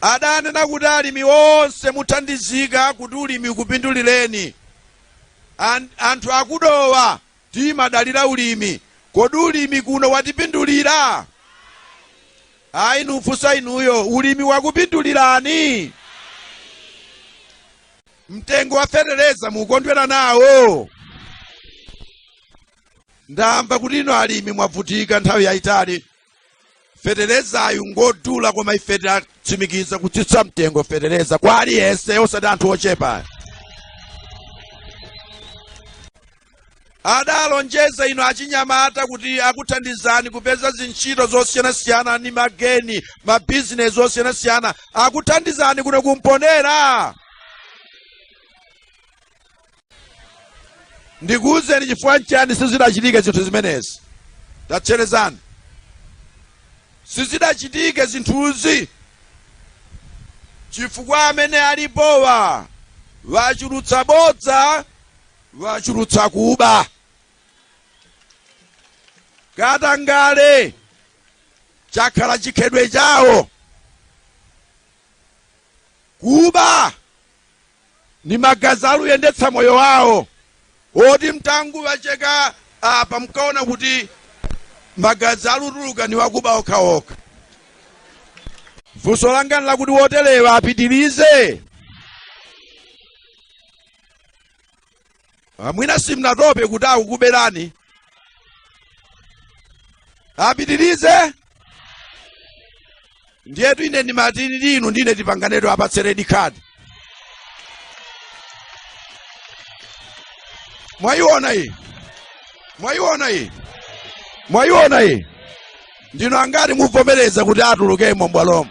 adanena kuti alimi onse muthandizika kuti ulimi ukupindulireni anthu akudowa timadalira ulimi kodi ulimi kuno watipindulira ayi nufunsa inuyo ulimi wakupindulirani mtengo wa fetereza mukondwera nawo ndamva kuti inu alimi mwavutika nthawi yayitali feterezayu ngodula koma ife tatsimikiza kutsitsa mtengo fetereza kwa aliyense osati anthu ochepa adalonjeza inu achinyamata kuti akuthandizani kupeza zintchito zosiyanasiyana ndi mageni mabizinesi osiyanasiyana akuthandizani kuno kumponera ndikuwuzeni chifukwa nchani sizidachitike zinthu zimenezi tatcherezani sizidachitike zinthuzi chifukwa amene alipowa wachulutsa bodza wachulutsa kuba katangale chakhala chikhedwe chawo kuba ndi magazi aluyendetsa moyo wawo woti mtanguwacheka apa mkaona kuti magazi alutuluka ni wakuba okhaokha funso langa nlakuti woterewa apitirize Ah, mwina simnatope kuti akukuberani apitirize ndiyetu ine ndimati inu ndine tipanganetu tiwapatse redi khadi mwayiona iyi mwayiona iyi mwayiona iyi ndinu angati muvomereza kuti atulukemo mbwalomo